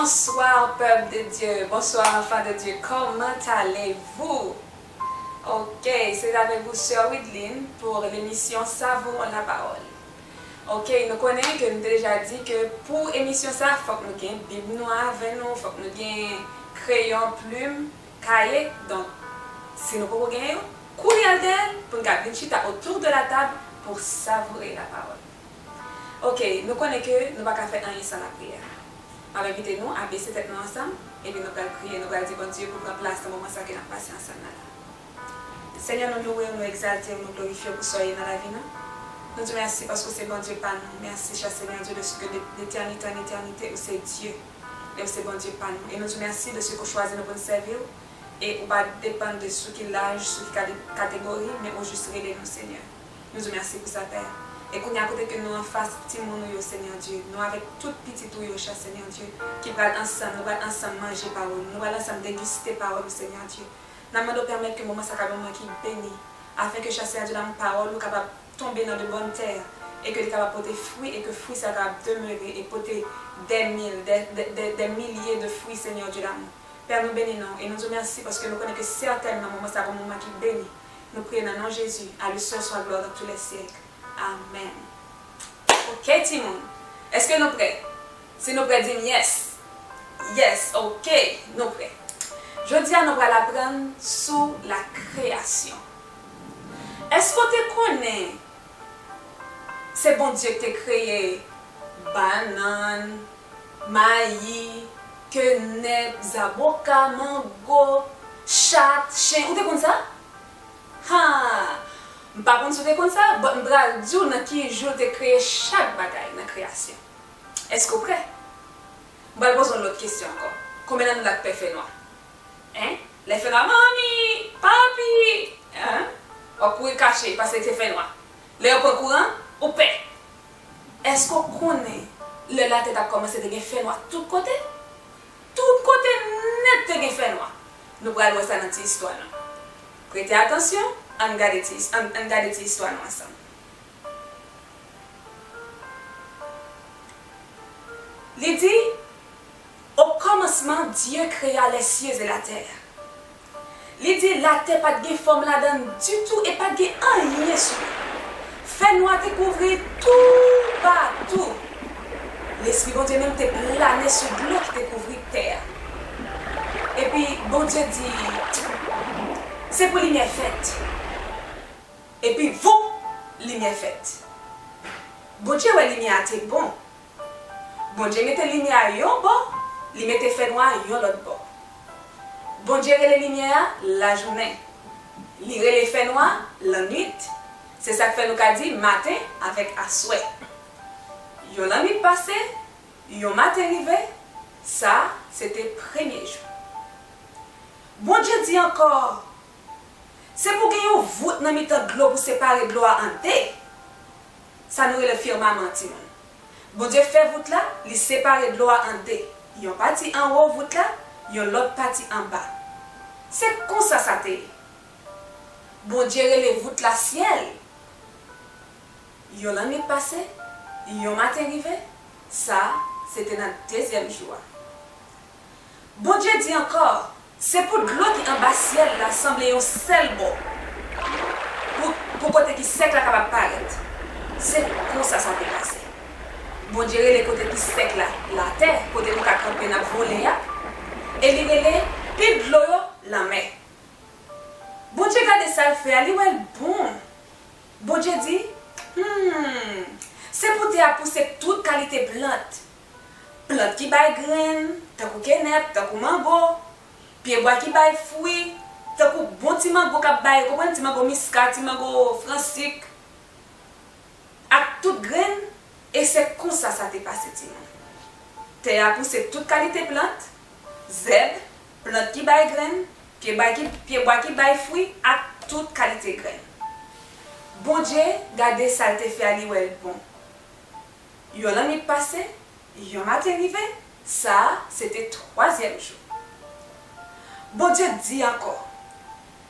Bonsoir pèp de Dieu bonsoir enfants de Dieu comment allez vous ok c'est avec vous soeur Wideline pour l'émission savourons la parole ok nou konnen ke nou te deja di ke pou emisyon sa fòk nou gen bib nou an avè nou fòk nou gen kreyon plum kaye donk si nou poko gen yo kouri al gèyèl poun ka vin chita autour de la table pour savourer la parole. Ok, nou konnen ke nou pa ka fè anyen san lapriyè. M ap envite nou a bese tèt nou ansanm, epi nou pral priye, nou pral di Bondye pou pran plas nan moman sa ke n ap pase ansanm nan la. Senyè, nou louwe w, nou egzalte w, nou glorifye w pou sa w ye nan lavi nou. Nou di w mèsi paske w se Bondye pa nou. Mèsi, chè Senyè Dye, dèske de letènite an etènite, ou se Dye, e ou se Bondye pa nou. E nou di w mèsi dèske ou chwazi nou pou n sèvi w, e ou pa depann de sou ki laj, sou ki kategori, men ou jis rele nou Senyè. Nou diw mèsi pou sa pè. E kounya kote ke nou anfas timoun ou yo Senyè Dye, nou avèk tout pitit ou yo cha Senyè Dye, ki pral ansanm, nou pral ansanm manje pawòl ou, nou pral ansanm degiste pawòl ou Senyè Dye. Nan mande w pèmèt ke moman sa kab yon moman ki beni, afen ke cha Senyè Dye nan pawòl ou kapab tonbe nan de bòn tè, e ke li kapab pote fwi, e ke fwi sa kapab demere e pote dè mil, dè, dè, dè milye de fwi Senyè Dye damou. Pè nou beni non w, e nou diw mèsi paske nou konnen ke sètènman moman sa ap yon moman ki beni, Nou priye nan non Jezi, a lui seul soit gloire dans tous les siècles. Amen. Ok timoun, eske nou prè? Si nou prè dim yes. Yes, ok, nou prè. Jodi a nou pral aprann sou la kreyasyon. Eske w te konnen Se Bondye ki te kreye bannann, mayi, kenèp, zaboka, mango, chat, chen, ou te konn sa? Haa! M pa konn si w te konn sa, but m pral di w nan ki jou l te kreye chak bagay nan kreyasyon. Èske w prè? M pral poze w lòt kesyon ankò, konbyen nan nou la k pè fènwa? 1. Lè fè la manmi, papi eeh wap kouri kache paske te fè nwa lè yo pran kouran ou pè eske ou konnen lè latè tap kòmanse te gen fè nwa tout kote tout kote nèt te gen fè nwa nou pral wè sa nan ti istwa nou prete atansyon ann gade ti ann gade ti istwa nou ansanm li di. O kòmansman, Dye kreya lèsye e latè. Li di latè pa t gen fòm ladan l ditou e pa t gen anyen sou li. Fènwa te kouvri l toupatou. Lespri Bondye menm te plane sou dlo ki te kouvri tè a. Epi, Bondye di, Se pou limyè fèt. Epi, voup! Limyè fèt. Bondye wè limyè a te bon, Bondye mete limyè a yon bò, li mete fènwa a yon lòt bò. Bondye rele limyè a lajounen, li rele fènwa a lannuit. Se sa k fè nou ka di maten avèk aswè. Yon lannuit pase, yon maten rive, sa a se te premye jou. Bondye di ankò, Se pou gen yon vout nan mitan dlo pou separe dlo a an de. sa nou rele firmaman timoun. Bondye fè vout la, li separe dlo a an de, yon pati anwo vout la, yon lòt pati anba. Se konsa sa te ye. Bondye rele vout la syèl. Yon lannwit pase, yon maten rive, sa, se te nan dezyèm jou a. Bondye di ankò, Se pou dlo ki anba syèl la sanble yon sèl bò, pou, pou kote ki sèk la kapab parèt. Se konsa sa te pase. Bondye rele kote ki sèk la, latè, kote nou ka kanpe n ap vole a, e Li rele pil dlo yo, lanmè. Bondye gade sa L fè a, Li wè l bon. Bondye di, Hum! Se pou tè a pouse tout kalite plant, plant ki bay grenn, tankou kenèp, tankou mango, pyebwa ki bay fwi, tankou bon ti mango k ap bay, ou konprann, ti mango miska, ti mango fransik, ak tout grenn, e se konsa sa te pase timoun. Tè a pouse tout kalite plant, zèb, plant ki bay grenn, pyebwa ki bay fwi, ak tout kalite grenn. Bondye gade sa l te fè a, li wè l bon. Yon lannwit pase, yon maten rive, sa a se te twazyèm jou. Bondye di ankò,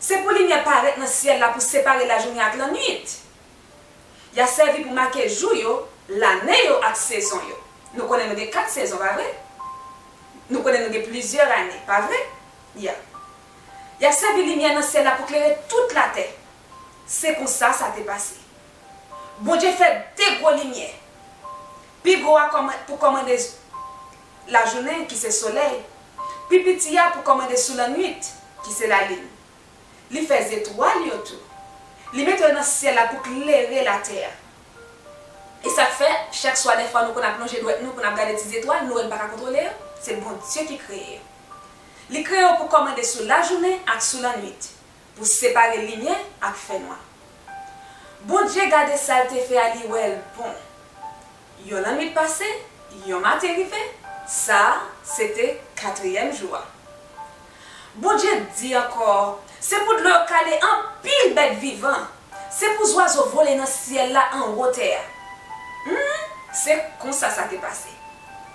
Se pou limyè parèt nan syèl la pou separe lajounen ak lannwit. Y a sèvi pou make jou yo, lane yo ak sezon yo. Nou konnen nou gen kat sezon, pa vre? Nou konnen nou gen plizyè ane, pa vre? Ya. Y a sèvi limyè nan syèl la pou klere tout latè. Se konsa sa te pase. Bondye fè de gwo limyè. Pi gwo a pou kòmande lajounen, ki se solèy, pi piti a pou kòmande sou lannuit, ki se lalin. Li fè zetwal yo tou. Li mete yo nan syèl la pou klere latè a. E sa k fè, chak swa dèfwa nou konn ap lonje dwèt nou pou n ap gade ti zetwal, nou wè n pa ka kontwole yo? Se Bondye ki kreye yo. Li kreye yo pou kòmande sou lajounen ak sou lannuit. pou separe limyè ak fènwa Bondye gade sa l te fè a li wè l bon Yon lannwit pase yon maten rive sa a se te katriyèm jou a Bondye di ankò se pou dlo yo kale anpil bèt vivan se pou zwazo vole nan syèl la anwo tè a Humm se konsa sa te pase.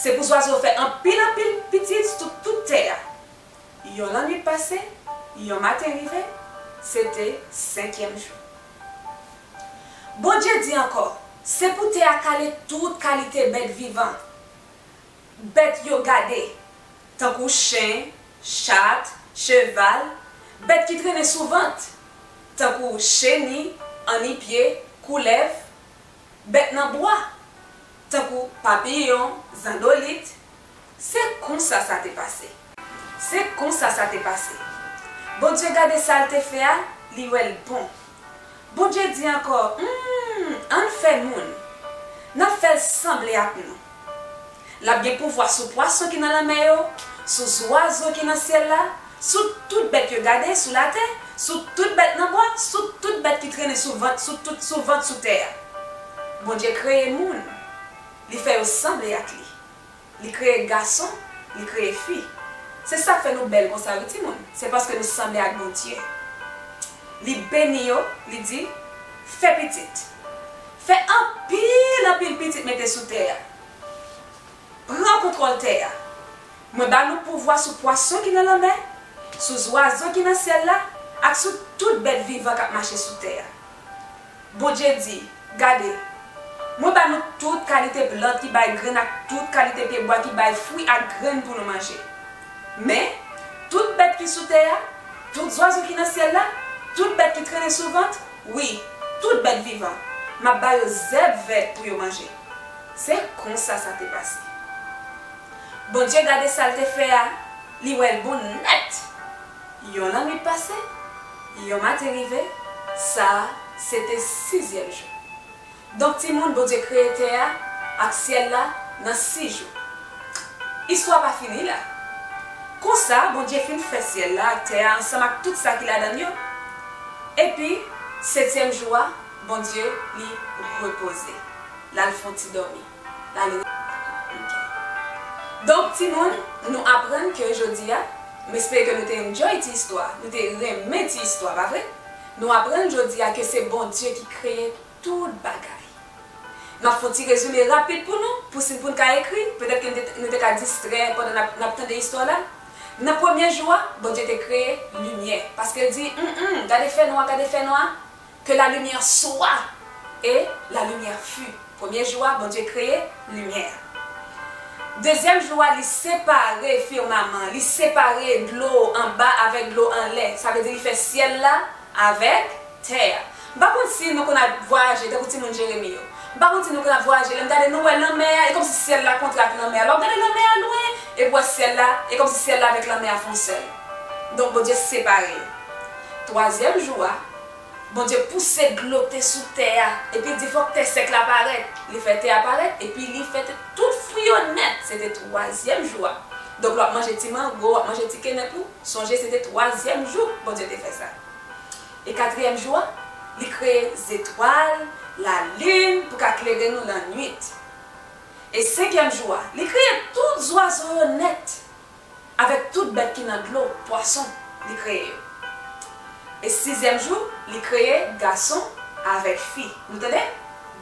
Se pou zwazo fè anpil anpil pitit sou tout tè a. Yon lannwit pase, yon maten rive, se te senkyèm jou. Bondye di ankò, Se pou tè a kale tout kalite bèt vivan. Bèt yo gade, tankou chen, chat, cheval, bèt ki trennen sou vant, tankou cheni, annipye, koulèv, bèt nan bwa. tankou papiyon, zandolit, se konsa sa te pase. Se konsa sa te pase. Bondye gade sa l te fè a, li wè l bon. Bondye di ankò, Humm, an n fè moun. N ap fè l sanble ak nou. L ap gen pouvwa sou pwason ki nan lanmè yo, sou zwazo ki nan syèl la, Sou tout bèt yo gade sou latè, sou tout bèt nan bwa, sou tout bèt ki trennen sou vant, sou tout sou vant sou tè a. Bondye kreye moun, li fè yo sanble ak li. Li kreye gason, li kreye fi. Se sa k fè nou bèl konsa wi timoun, se paske nou sanble ak Bondye. Li beni yo, li di, Fè pitit. Fè anpil anpil pitit mete sou tè a. Pran kontwòl tè a. Mwen ba nou pouvwa sou pwason ki nan lanmè, sou zwazo ki nan syèl la ak sou tout bèt vivan k ap mache sou tè a. Bondye di, Gade, mwen ba nou tout kalite plant ki bay grenn ak tout kalite pyebwa ki bay fwi ak grenn pou nou manje. Men, tout bèt ki sou tè a, tout zwazo ki nan syèl la, tout bèt ki trennen sou vant, wi, tout bèt vivan, m ap ba yo zèb vèt pou yo manje. Se konsa sa te pase. Bondye gade sa l te fè a, li wè l bon nèt! Yon lannwit pase, yon maten rive, sa a se te sizyèm jou. Donk timoun, Bondye kreye tè a ak syèl la nan sis jou. Istwa pa fini la. Konsa, Bondye fin fè syèl la ak tè a ansanm ak tout sa ki ladan l yo. Epi, setyèm jou a, Bondye li repoze. L al fon ti dòmi. L al re. Ok. Donk timoun, nou aprann ke jodi a, m espere ke nou te enjoy ti istwa, nou te renmen ti istwa, pa vre? Nou aprann jodi a ke se Bondye ki kreye tout bagay. M ap fon ti rezime rapid pou nou, pou si pou n ka ekri, petèt ke n te, nou te ka distrè pandan n ap, n ap tande istwa la. Nan premye jou a, Bondye te kreye limyè, paske l di, Hum, hum, gade fènwa, gade fènwa. Ke la limyè swa! E la limyè fu. Premye jou a, Bondye kreye limyè a. Dezyèm jou a, li separe firmaman, li separe dlo anba avèk dlo anlè. Sa vle di li fè syèl la avèk tè a. M pa konn si nou konn ap vwayaje tankou timoun Jeremi yo. M pa konn si nou konn ap vwayaje, lè n gade nou wè lanmè a, e kòmsi syèl la kontre ak lanmè a. Lè w gade lanmè a lwen, epi w wè syèl la, e kòmsi syèl la avèk lanmè a fon sèl. Donk Bondye separe yo. Twazyèm jou a. Bondye pouse dlo te sou tè a, epi l di fòk tè sèk la parèt. Li fè tè a parèt, epi li fè te tout fwi yo nèt. Se te twazyèm jou a. Donk lè w ap manje ti mango, w ap manje ti kenèp ou, sonje se te twazyèm jou Bondye te fè sa. E katriyèm jou a, li kreye zetwal, lalin pou ka klere nou lannuit. E senkyèm jou a, li kreye tout zwazo yo nèt. Avèk tout bèt ki nan dlo, pwason, li kreye yo. E sizyèm jou, li kreye gason avèk fi. Nou tande?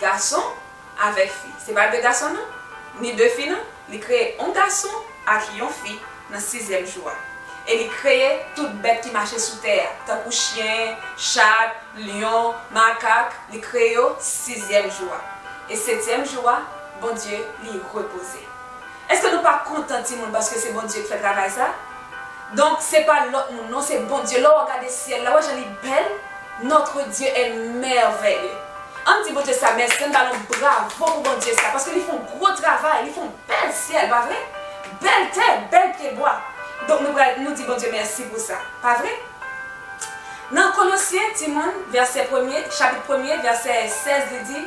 Gason avèk fi. Se pa de gason non, ni de fi non. Li kreye yon gason ak yon fi nan sizyèm jou a. E li kreye tout bèt ki mache sou tè a, tankou chyen, chat, lyon, makak, li kreye yo sizyèm jou a. E setyèm jou a, Bondye li repoze. Eske nou pa kontan timoun paske se Bondye k fè travay sa? Donk se pa lòt moun non se Bondye lè w gade syèl la wè jan li bèl notre Dieu est merveilleux ann di Bondye sa mèsi ann ba l yon bravo pou Bondye sa paske li fè yon gwo travay li fè yon bèl syèl pa vre bèl tè bèl pye bwa donk nou pral nou di Bondye mèsi pou sa pa vre nan Kolosyen timoun vèsè premye chapit premye vèsè 16 li di.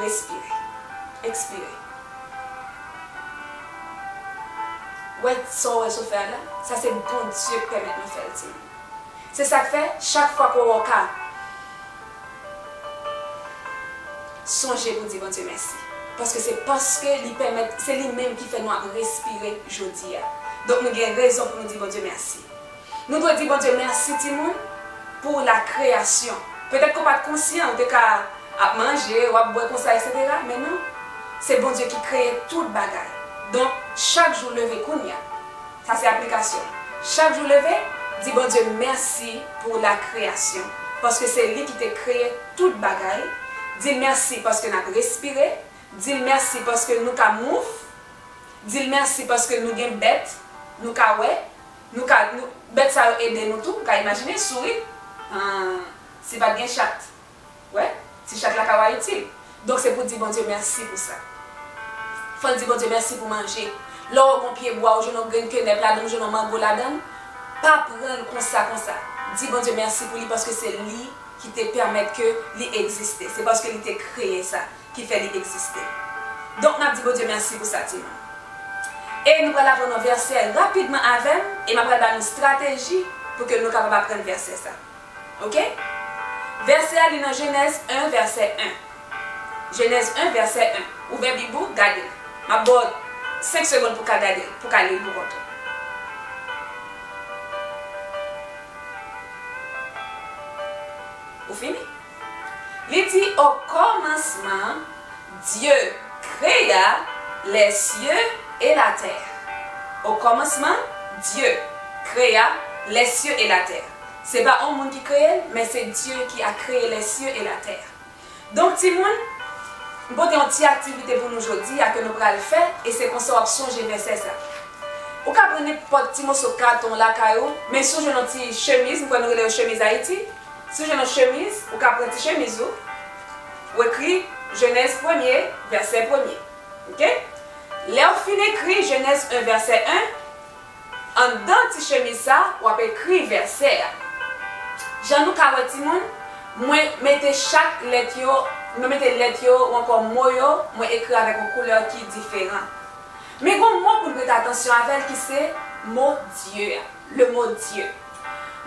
Respire. Ekspire. Wè sa w wè sou fè a la? Sa se Bondye k pèmèt nou fè l ti moun. Se sa k fè, chak fwa ke w wè w ka sonje pou di Bondye mèsi. Paske se paske li pèmèt, se li menm ki fè nou ap respire jodi a. Donk nou gen rezon pou nou di Bondye mèsi. Nou dwe di Bondye mèsi timoun pou la kreyasyon. Petèt ke w pa t konsyan, ou te ka ap manje, w ap bwè konsa eksetera, men non, se Bondye ki kreye tout bagay. Donk, chak jou leve kounya, sa se aplikasyon l, chak jou leve, di Bondye mèsi pou la kreyasyon, paske se li ki te kreye tout bagay, di l mèsi paske n ap respire, di l mèsi paske nou ka move, di l mèsi paske nou gen bèt, nou ka wè. Nou ka, nou, bèt sa yo ede nou tou, m ka imajine, souri. An, si pa t gen chat. Wè, ti chat la ka wa itil. Donk se pou di Bondye mèsi pou sa. Fò n di Bondye mèsi pou manje. Lè w wè yon pye bwa, ou jwenn yon grenn kenèp ladan l, ou jwenn yon mango ladan l, pa pran l konsa konsa. Di Bondye mèsi pou li paske se li ki te pèmèt ke li egziste. Se paske li te kreye sa. ki fè li egziste. Donk nap di Bondye mèsi pou sa timoun. E nou pral aprann yon vèsè rapidman avèm e map pral ba nou strateji pou ke nou kapab aprann vèsè sa. Ok? Vèsè a li nan Jenèz 1 vèsè 1. Jenèz 1 vèsè 1. Ouvè bib ou, gade l. Map baw 5 segond pou ka gade l, pou ka li l pou kont ou. Ou fini? Li di o kòmansman Dye krea lè sye e la tè. O kòmansman Dye krea lè sye e la tè. Se pa on moun ki kreye l, men se Dye ki a kreye lè sye e la tè. Donk timoun, m pote on ti aktivite pou nou jodi a ke nou pral fè e se konsa w ap sonje vèsè sa. Ou ka pran nenpòt ti moso katon lakay ou, men si w jwenn on ti chemiz, m kwè nou rele yo chemiz Ayiti, Si w jwenn yon chemiz, ou ka pran ti chemiz ou, ou ekri Jenèz premye, vèsè premye. Ok? Lè ou fin ekri Jenèz 1 vèsè 1, anndan ti chemiz sa, w ap ekri vèsè a. Jan nou ka wè timoun, mwen mete chak lèt yo, mwen mete lèt yo ou ankò mo yo, mwen ekri avèk yon koulè ki diferan. Men gen yon mo pou n prete atansyon avè l ki se mo Dye a. Le mot Dieu.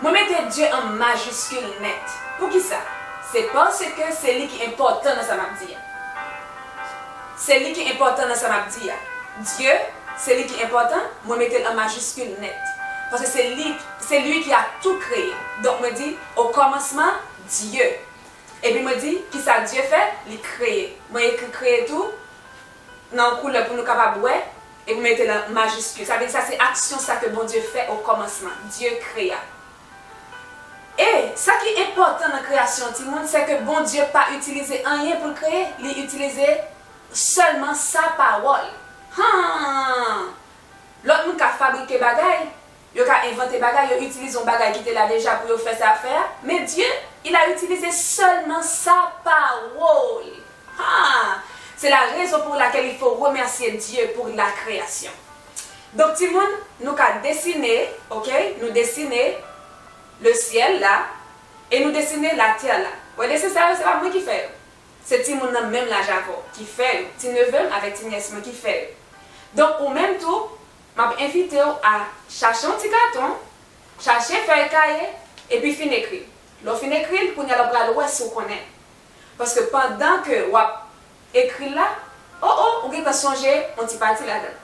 Mwen mete Dieu an majiskil nèt. Poukisa? Se paske se li ki enpòtan nan sa m ap di a. Se li ki enpòtan nan sa m ap di a. Dieu, se li ki enpòtan, mwen mete l an majiskil nèt. Paske se li, se lui ki a tou kreye. Donk mwen di, Au commencement, Dieu. Epi mwen di, kisa Dieu fè? Li kreye. Mwen ekri kreye tou nan yon koulè pou nou kapab wè. E pou mete l an majiskil. Sa vle di sa se aksyon sa ke Bondye fè okòmansman. Dye krea. E, sa ki enpòtan nan kreyasyon yon timoun, sè ke Bondye pa itilize anyen pou l kreye. Li itilize sèlman sa pawòl. Han! Lòt moun ka fabrike bagay, Yo ka envante bagay, yo itilize yon bagay ki te la deja pou yo fè sa fè a, men Dye, il a utilisé seulement sa parole! Haa! Se la rezon pour laquelle il faut remercier Dieu pour la création. Donk timoun, nou ka desine, ok, nou desine le ciel la e nou desine la terre la. Wè desen sa yo, se pa mwen ki fè yo. Se timoun nan menm laj avè w ki fè yo, ti neve m avèk ti nyès mwen ki fè yo. Donk ou menm tou, M ap envite w a chache yon ti katon, chache fèy kaye, epi fin ekri. Lè w fin ekri l, kounye a la w pral wè si w konnen. Paske pandan ke w ap ekri l la, o o, ou gentan sonje yon ti pati ladan l.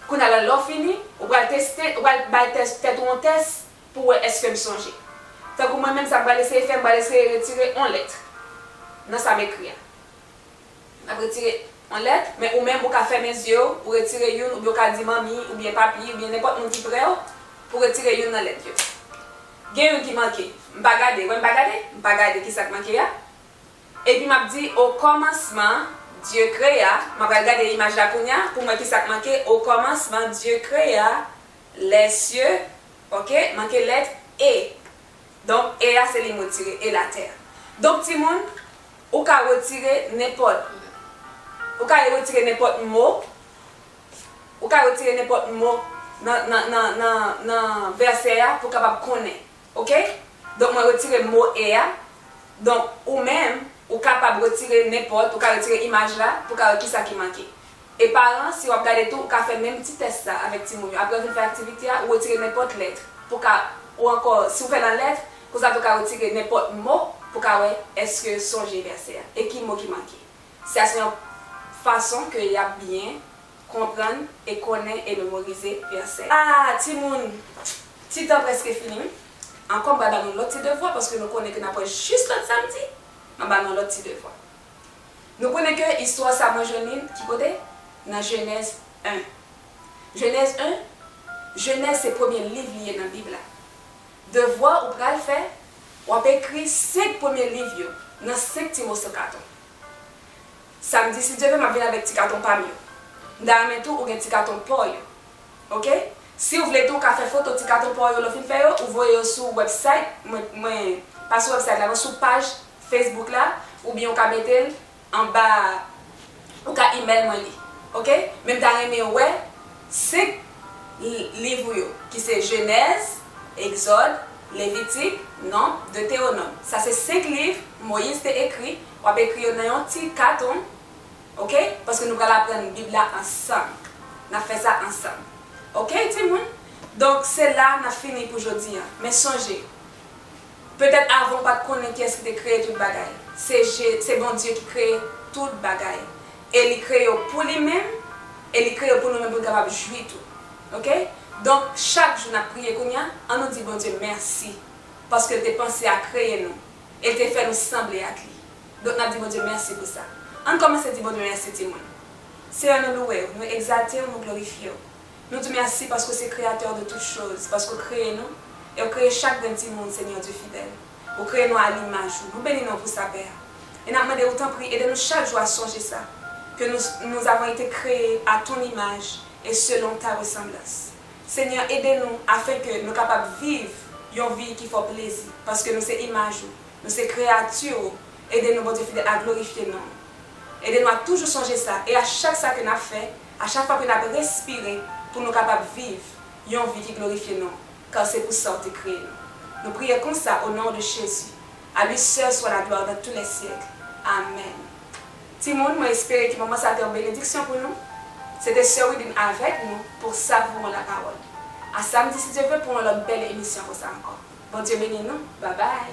Kounye a la, lè w fini, ou pral teste, ou pral bay tèt ou yon tès pou w wè èske m sonje. Tankou mwen menm, sa m pral eseye fè, m pral eseye retire yon lèt nan sa m ekri a. N ap retire yon lèt, men ou menm ou ka fèmen zye w, ou retire youn oubyen ou ka di manmi oubyen papi oubyen nenpòt moun ki pre w pou retire youn nan lèt yo. Gen youn ki manke. M pa gade. Wè m pa gade? M pa gade ki sa k manke a. Epi m ap di okòmansman Dye krea, m apral gade imaj la kounya pou m wè ki sa k manke, okòmansman Dye krea lèsye, oke, manke lèt e. Donk e a se li m retire e la tè a. Donk timoun, ou ka retire nenpòt ou ka retire nenpòt mo ou ka retire nenpòt mo nan nan nan nan nan vèsè a pou w kapab konnen. Ok? Donk mwen retire mo e a. Donk ou menm, ou kapab retire nenpòt ou ka retire imaj la pou w ka wè kisa ki manke. E paran, si w ap gade tou, ou ka fè menm ti tès la avèk timoun yo. Apre yo fin fè aktivite a, ou retire nenpòt lèt pou w ka, ou ankò, si w fè nan lèt, konsa tou ka retire nenpòt mo pou w ka wè èske yo sonje vèsè a e ki mo ki manke. Sa se yon fason ke y ap byen konprann e konnen e memorize vèsè. A, timoun! Ti tan prèske fini wi. Ankò m pral ba nou lòt ti devwa paske nou konnen ke n ap wè jis lòt samdi. M ap ba nou lòt ti devwa. Nou konnen ke istwa sa mwen jwenn li ki kote? Nan Jenèz 1. Jenèz 1? Jenèz se premye liv li ye nan Bib la. Devwa ou pral fè, w ap ekri 5 premye liv yo nan 5 ti moso katon. Samdi si Dye vle m ap vin avèk ti katon pa m yo. M ta renmen tou ou gen ti katon pa w yo. Ok? Si w vle tou w ka fè foto ti katon pa w yo lè w fin fè yo, ou voye yo sou wèbsayt mwen, mwen, pa sou wèbsayt la non, sou paj Facebook la oubyen ou ka metel anba ou ka email mwen li ok men m ta renmen wè 5 liv ou yo ki se jenèz egzòd levitik nonb deteronòm sa se 5 liv moyiz te ekri wap ekri yo nan yon ti katon ok paske nou pral aprann bib la ansanm nap fè sa ansanm ok timoun donk se la nap fini pou jodi an men sonje. Petèt avan ou pa t konnen kiyès ki te kreye tout bagay. Se Je, se Bondye ki kreye tout bagay. E li kreye yo pou li menm, e li kreye yo pou nou menm pou n kapab jwi tou. Oke? Donk, chak jou n ap priye kounye a, an nou di Bondye mèsi paske l te panse a kreye nou e l te fè nou sanble ak li. Donk, n ap di Bondye mèsi pou sa. An n kòmanse di Bondye mèsi timoun. Seyè nou louwe w, nou egzalte w, nou glorifye w. Nou di mèsi paske w se Kreyatè de tout choz, paske w kreye nou, e w kreye chak grenn timoun, Senyè Dye fidèl. Ou kreye nou a limaj ou. Nou beni non pou sa, Pè a. E n ap mande ou tanpri ede nou chak jou a sonje sa, ke nous, nous avons été créés à ton image et selon ta ressemblance. Senyè, ede nou afen ke nou kapab viv yon vi ki fè w plezi, paske nou se imaj ou, nou se kreyati ou, ede nou, Bondye fidèl, a glorifye non ou. Ede nou a toujou sonje sa, e a chak sa ke n ap fè, A chak fwa ke nap respire pou nou kapab viv yon vi ki glorifye non kar se pou sa ou te kreye nou. Nou priye konsa o non de Jezi. A lui seul soit la gloire dans tous les siècles. Amen. Timoun mwen espere ke moman sa te yon benediksyon pou nou. Se te sè Widin avèk nou pou savouran la pawòl. A samdi si Dye vle pou yon lòt bèl emisyon konsa ankò. Bondye beni nou. Babay.